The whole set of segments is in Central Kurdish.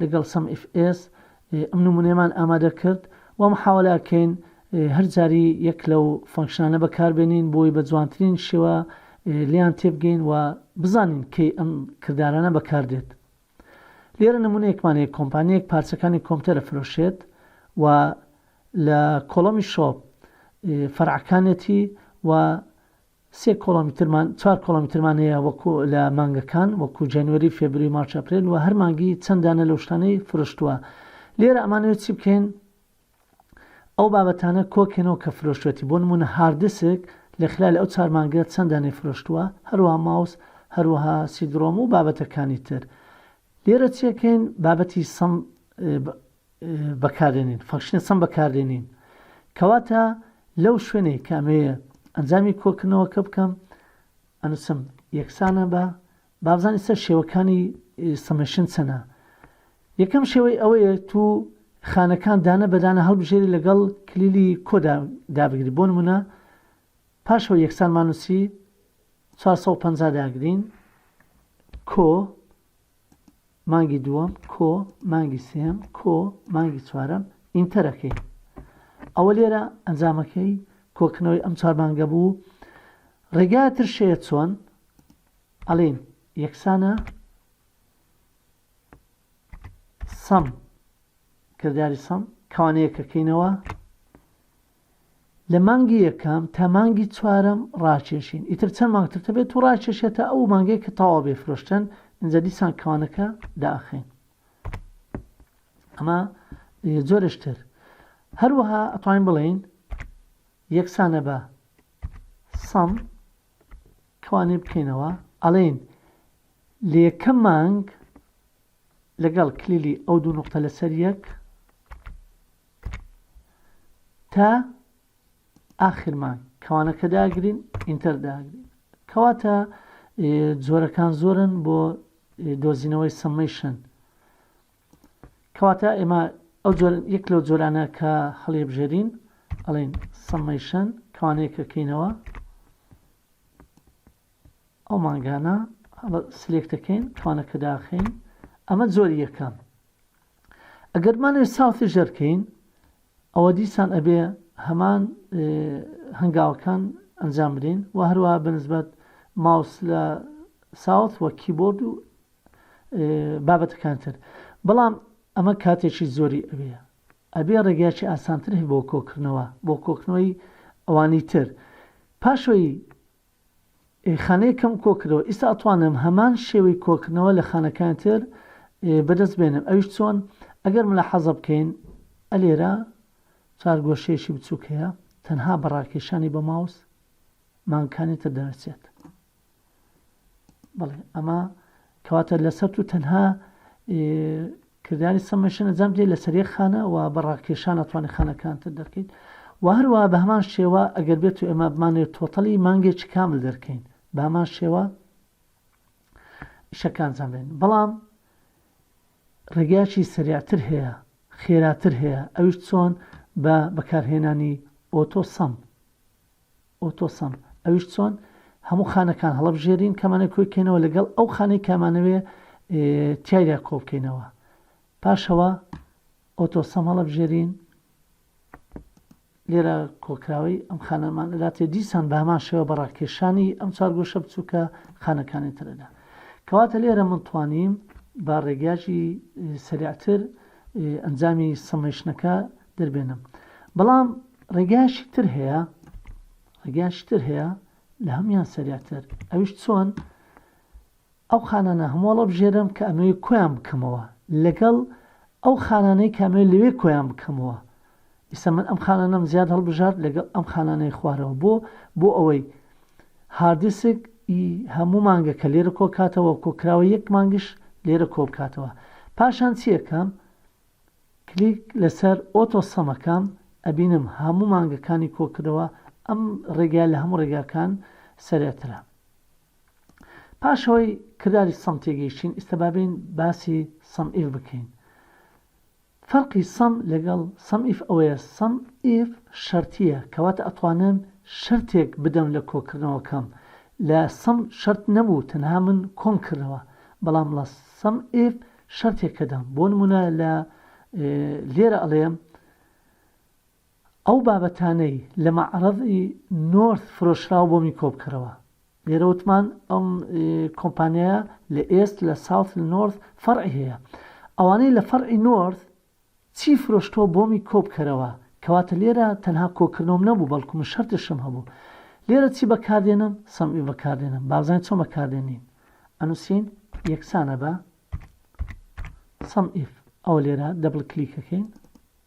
لەگەڵ سەم ئیف ئێس ئەم نمونەیەمان ئامادە کرد وا محاوەلە ئەکەین هەر جاری یەک لەو فەنکشنانە بەکار بێنین بۆی بە جوانترین شێوە لێیان تێبگەین و بزانین کەی ئەم کردارانە بەکار دێت لێرە نمونەیەکمان هەیە کۆمپانیەک پارچەکانی کۆمپیوتەر ئەفرۆشێت و لە کۆڵەمی شۆپ فەرعەکانێتی و سێ کۆڵۆمیترمان چوار کۆڵۆمیترمان هەیە وەکو لە مانگەکان وەکو جەنوەری فێبری مارچ ئەپرێل وە هەر مانگی چەند دانە لەو شتانەی فرۆشتوە لێرە ئەمانەوێت چی بکەین ئەو بابەتانە کۆکەنەوە کە فرۆشتوەتی بۆ نمونە هاردسک لە خلال ئەو چار مانگە چەند دانەی فرۆشتوە هەروەها ماوس هەروەها سیدرۆم و بابەتەکانی تر لێرە چیەکەین بابەتی سم بەکاردێنین Function چەند بەکاردێنین کەواتە لەو شوێنێک کە ئەمەوێ ئەنجامی کۆکردنەوەکە بکەم ئەنووسم یەکسانە بە بابزانانی سەر شێوەکانی سمشن چەنە یەکەم شێوەی ئەوەیە تو خانەکان دانە بەدانە هەڵبژێری لەگەڵ کلیلی کۆدا دابگری بۆ نمونە پاشەوە یەکسان مانوسی 450 داگرین کۆ مانگی دووەم کۆ مانگی سێم کۆ مانگی چوارەم ئینتەرەکەی ئەوە لێرە ئەنجامەکەی کۆکنەوەی ئەم چوار مانگە بوو ڕێگا تر شەیە چۆن ئەڵین یەکسانە سەم کرداری سەم کەوانەیەکەکەینەوە لە مانگی یەکەم تا مانگی چوارەم ڕاکێشین ئیتر چەند مانگ تر دەبێت و ڕاکێشێت تا ئەو مانگەی کە تەواو بێت فرۆشتن ئینجا دیسان کەوانەکە دائەخەین ئەمە جۆرێش تر هەروەها ئەتوانین بڵێین یەکسانە بە سەم کەوانێ بکەینەوە ئەڵێن لەیەکەم مانگ لەگەڵ کلیلی ئەو دوو نوقتە لەسەر یەک تا ئاخر مانگ کەوانەکە داگرین ئینتەر داگرین کەواتە جۆرەکان زۆرن بۆ دۆزینەوەی سمشن کەواتە ئێمە ئەو یەک لەو جۆرانە کە هەڵێبژێرین ئەڵین سمشن کەوانەیەکەکەینەوە ئەو مانگانە سلێک دەکەین کوانە کە داخین ئەمە زۆر یەکەم ئەگەرمانێ ساوتی ژەرکەین ئەوە دیسان ئەبێ هەمان هەنگاوەکان ئەنجام بدەین و هەروە بەنسبەت ماوس لە ساوت وە کیبۆرد و بابەتەکان تر بەڵام ئەمە کاتێکی زۆری ئەوێ ئەبێ ڕێگایکی ئاسانتر هەی بۆ کۆکردنەوە بۆ کۆکنەوەی ئەوانی تر پاشەوەی خانەیەکم کۆکردەوە ئیستا ئەتوانم هەمان شێوەی کۆکردنەوە لە خانەکانی تر بەدەست بێنم ئەویش چۆن ئەگەر ملاحەزە بکەین ئەلێرە چار گۆشەیەشی بچوک هەیە تەنها بە ڕاکێشانی بە ماوس مانگکانی تر دەنرچێت بەڵێ ئەمە کەواتە لەسەر تو تەنها کرداری سەمەشن ئەنجام بدەیت لەسەر یەک خانە و بە ڕاکێشان ئەتوانی خانەکانتر دەرکەیت و هەروەها بە هەمان شێوە ئەگەر بێت و ئێمە بمانەوێت تۆتەڵی مانگێکی کامل دەرکەین بە هەمان شێوە ئیشەکە ئەنجام بدەین بەڵام ڕێگایکی سریعتر هەیە خێراتر هەیە ئەویش چۆن بە بەکارهێنانی ئۆتۆ سەم ئۆتۆ سەم، ئەویش چۆن؟ هەموو خانەکان هەڵەبژێرین کامانەوێ کۆی کەینەوە لەگەڵ ئەو خانەی کامانەوێ تیایدا کۆبکەینەوە پاشەوە ئۆتۆ سەم هەڵەبژێرین لێرە کۆکراوەی ئەم خانەمان لاتێ دیسان بە هەمان شێوە بە ڕاکێشانی ئەم چارگۆشە بچووکە خانەکانی ترەدا کەواتە لێرە من توانیم با ڕێگاژی سریعتر ئەنجامی سمشنەکە دەربێنم بەڵام ڕێگاشی تر هەیە ڕێگاشی تر هەیە لە هەمان سەراتر ئەوش چۆن ئەو خانانە هەمووڵە بژێرم کە ئەمەوێ کۆیان بکەمەوە لەگەڵ ئەو خانانەی کامێ لەوێ کۆیان بکەمەوە ئیسە من ئەم خانانم زیاد هەڵبژارد لەگەڵ ئەم خانانەی خوارەوە بۆ بۆ ئەوەی هاردیسک هەموو مانگە کە لێرە کۆکاتەوە کۆکراوە یەک مانگش لێرە کۆبکاتەوە پاشان چیەکەم کلیک لەسەر ئۆتۆ سەمەکەم ئەبینم هەموو مانگەکانی کۆکردەوە ئەم ڕێگایە لە هەموو ڕێگاکان سەرێترە پاش ئەوەی کرداری سەم تێگەیشتین ئیستا بابین باسی سەم ئیف بکەین فەرقی سەم لەگەڵ سەم ئیف ئەوەیە سەم ئیف شەرتیە کەواتە ئەتوانم شەرتێک بدەم لە کۆکردنەوەکەم لە سەم شەرت نەبوو تەنها من کۆم کردەوە بەڵام لە سەم ئیف شەرتێک کە دام بۆ نموونە لە لێرە ئەڵێم ئەو بابەتانەی لە مەعڕەزی نۆرث فرۆشراو بۆ من کۆبکەرەوە لێرە وتمان ئەم کۆمپانیا لە ئێست لە ساوت نۆرث فەرعی هەیە ئەوانەی لە فەرعی نۆرث چی فرۆشتووە بۆمی کۆبکەرەوە کەواتە لێرە تەنها کۆکردنەوەم نەبوو بەڵکو من شەرتشم هەبوو لێرە چی بەکاردێنم سەمعی بەکاردێنم بابزانین چۆن بەکاردێنین ئەنووسین یەکسانە بە سەمئیف ئەو لێرە دەبڵ کلیکەکەین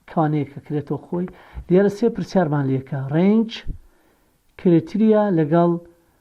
کوانەیەکە کرێتەوە خۆی لێرە سێ پرسیارمان لەکە ڕێنج کرێتریا لەگەڵ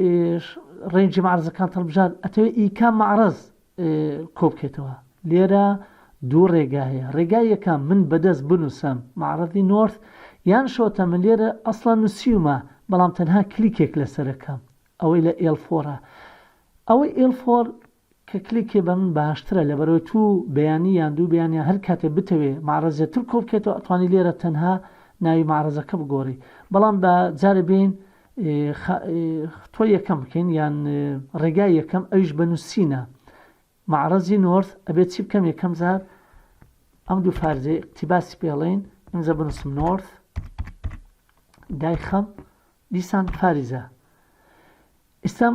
ئێش ڕێنجی مەعرەزەکانت هەڵبژارد ئەتەوێت ئی کام مەعرەز کۆبکەیتەوە لێرە دوو ڕێگا هەیە ڕێگای یەکەم من بەدەست بنووسم مەعرەزی نۆرث یان شۆتە من لێرە ئەسڵەن نووسیومە بەڵام تەنها کلیکێک لەسەرەکەم ئەوەی لە ئێڵ فۆرە ئەوەی ئێڵ فۆر کە کلیکێ بە من باشترە لەبەرەوەی توو بەیانی یان دوو بەیان یان هەر کاتێ بتەوێ مەعرەزێ تر کۆ بکەیتەوە ئەتوانی لێرە تەنها ناوی مەعرەزەکە بگۆری بەڵام با جارێ بێین خە ختوە یەکەم بکەین یان ڕێگای یەکەم ئەویش بە نووسینە مەعرەزی نۆرث ئەبێت چی بکەم یەکەم جار ئەم دوو فارزێ اقتیباسی پێڵین ئەمزە بنووسم نۆرث دایخەم دیسان فاریزە ئیسلام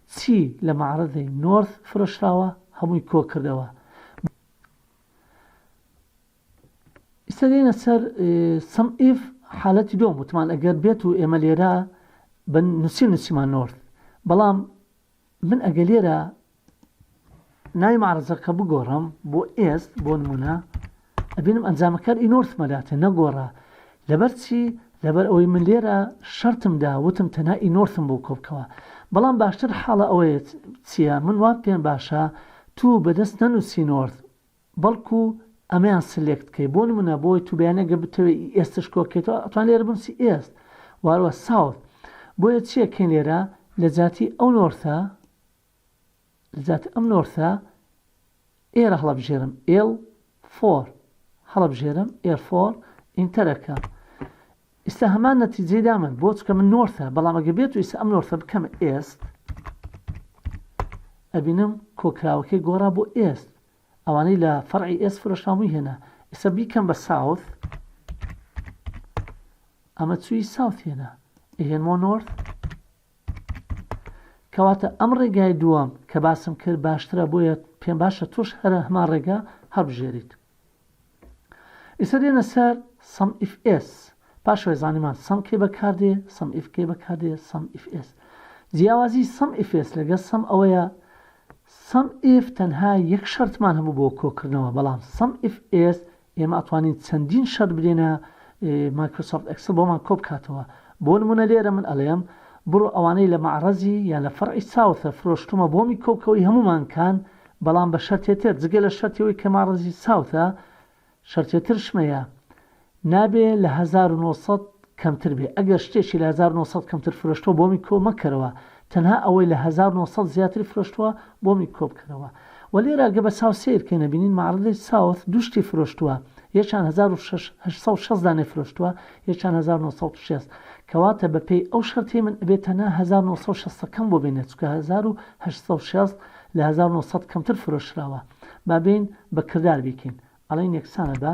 چی لە مەعرەزی نۆرس فرۆشراوە هەمووی کۆ کردەوە. ئیستا دێینە سەر سم ئیف حالەتی دووەم وتمان ئەگەر بێت و ئێمە لێرە بە نووسین نووسیمان نۆرس بەڵام من ئەگە لێرە ناوی مەعرەزەکە بگۆڕم بۆ ئێست بۆ نموونە ئەبینم ئەنجامەکەت ئینۆرت مەلاتە نەگۆڕا لەبەر چی لەبەر ئەوەی من لێرە شەرتم دا وتم تەنها ئینۆرتم بۆ کۆبکەوە بەڵام باشتر حاڵە ئەوەیە چیە من وام پێم باشە توو بەدەست نەنوسی نۆرت بەڵکو ئەمەیان سلێکت کەی بۆ نمونە بۆی تو بیانە گە بتەوێ ئی ئێستش کۆکەیتەوە ئەتوان لێرە بنوسی ئێست واروە ساوت بۆیە چیە کەین لێرە لەجاتی ئەو نۆرتە لەجاتی ئەم نۆرسە ئێرە هەڵەبژێرم ئێڵ فۆر هەڵەبژێرم ئێر فۆر ئینتەرەکەم ئیستا هەمان نەتیجەی دامن بۆ چکە من نۆرسە بەڵام ئەگە بێت و ئیستا ئەم نۆرسە بکەم ئێست ئەبینم کۆکراوەکەی گۆڕا بۆ ئێست ئەوانەی لە فەرعی ئێس فرۆشتامووی هێنا ئیستا بیکەم بە ساوت ئەمە چووی ساوت هێنا ئەهێنمۆ نۆرت کەواتە ئەم ڕێگای دووەم کە باسم کرد باشترە بۆیە پێم باشە تۆش هەرە هەمان ڕێگا هەڵبژێریت ئیسە دێنە سەر سم ئیف ئێس پاشوێ زانیمان سم کێ بەکاردێ سم ئیف کێ بەکاردێ سم ئیف ئێس جیاوازی سم ئیفێس لەگە سم ئەوەیە سم ئف تەنها یەک شەرتمان هەبوو بۆ کۆکردنەوە بەڵام سم ئف ئێس ئێمە ئەتوانین چەندین شەرت بدەینە مایکرۆسۆفت ئێکسڵ بۆمان کۆبکاتەوە بۆ نمونە لێرە من ئەڵێم بڕۆ ئەوانەی لە مەعڕەزی یان لە فەرعی ساوثە فرۆشتومە بۆمی کۆبکەوەی هەموو مانکان بەڵام بە شەرتێ تر جگە لە شەرتی ئەوەی کە مەعڕەزی ساوثە شەرتێ ترشمەیە نابێ لە هەزار و نۆ سەد کەمتر بێ ئەگەر شتێکی لە هەزار و نۆ سەد کەمتر فرۆشتوە بۆمی کۆ مەکەرەوە تەنها ئەوەی لە هەزار و نۆ سەد زیاتری فرۆشتوە بۆمی کۆ بکەرەوە وە لێرە گە بە چاو سەیر کەین ئەبینین مەعڕەدەی ساوث دوو شتی فرۆشتوە یەکیان هەزار و شەش هەشت سەد و شەست دانەی فرۆشتوە یەکیان هەزار و نۆ سەد و شەست کەواتە بە پێی ئەو شەرتەی من ئەبێ تەنها هەزار و نۆ سەد و شەست ەکەم بۆ بێنێ چونکە هەزار و هەشت سەد و شەست لە هەزار و نۆ سەد کەمتر فرۆشراوە با بێین بە کردار بیکەین ئەڵێین یەکسانە بە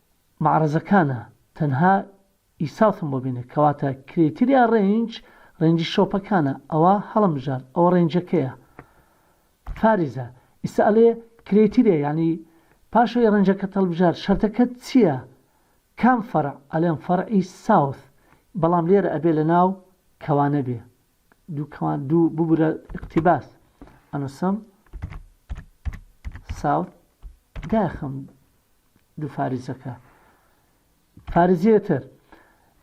مەعرەزەکانە تەنها ی ساوثم بۆ بینێ کەواتە کرێتریا رێنج رێنجی شۆپەکانە ئەوە هەڵەمژارد ئەوە رێنجەکەیە فاریزە ئیستا ئەلێ کرێتریا یانی پاش ئەوەی رێنجەکەت هەڵبژارد شەرتەکەت چیە کام فەرع ئەلێم فەرعی ساوث بەڵام لێرە ئەبێ لەناو کەوانە بێ دوو کەوان دوو ببورە اقتباس ئەنوسم ساوث داخم دوو فارزەکە فارزیە تر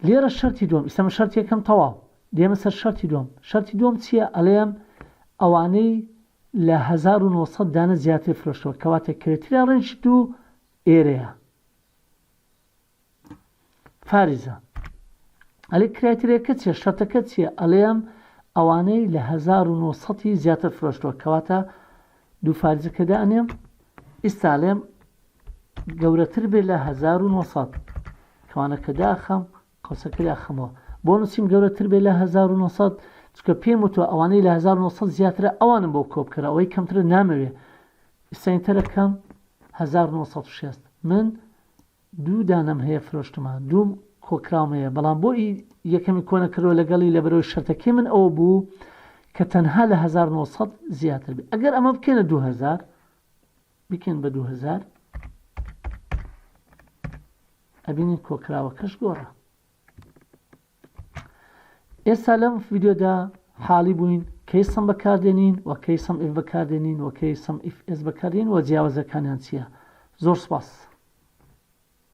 لێرە شەرتی دوم ئیسەمە شەرتی یەکەم تەواو دێمە سەر شەرتی دوم شەرتی دوم چییە ئەلێم ئەوانەی لە 1970 دانە زیاتر فرۆشتەوە کەواتە کرێتریا ڕێنج دوو ئێرەیە فارزە ئەلێ کرایترێکە چیە شەرتەکە چیە ئەلێم ئەوانەی لە هەزار و نۆ سەد ی زیاتر فرۆشتوە کەواتە دوو فارزەکە دانێم ئیستا لێم گەورەتر بێ لە هەزار و نۆ سەد کەوانەکە داخەم قەوسەکە داخەمەوە بۆ نووسیم گەورەتر بێ لە هەزار و نۆ سەد چکە پێم وتوە ئەوانەی لە هەزار و نۆ سەد زیاترە ئەوانم بۆ کۆ بکەرە ئەوەی کەمترە نامەوێ ئیستا ئینتەرەکەم هەزار و نۆ سەد و شەست من دوو دانەم هەیە فرۆشتمە دووم کۆکراوم هەیە بەڵام بۆ ئی یەکەمی کۆ نەکردوە لەگەڵی لەبەرەوەی شەرتەکەی من ئەوە بوو کە تەنها لە هەزار و نۆ سەد زیاتر بێ ئەگەر ئەمە بکەنە دوو هەزار بکەن بە دوو هەزار ئەبینین کۆکراوەکەش گۆڕە ئێستا لەم ڤیدیۆدا حاڵی بووین کەی سم بەکاردێنین و کەی سم ئیف بەکاردێنین و کەی سم ئیف ئێس بەکاردێنین و جیاوازەکانیان چییە زۆر سپاس.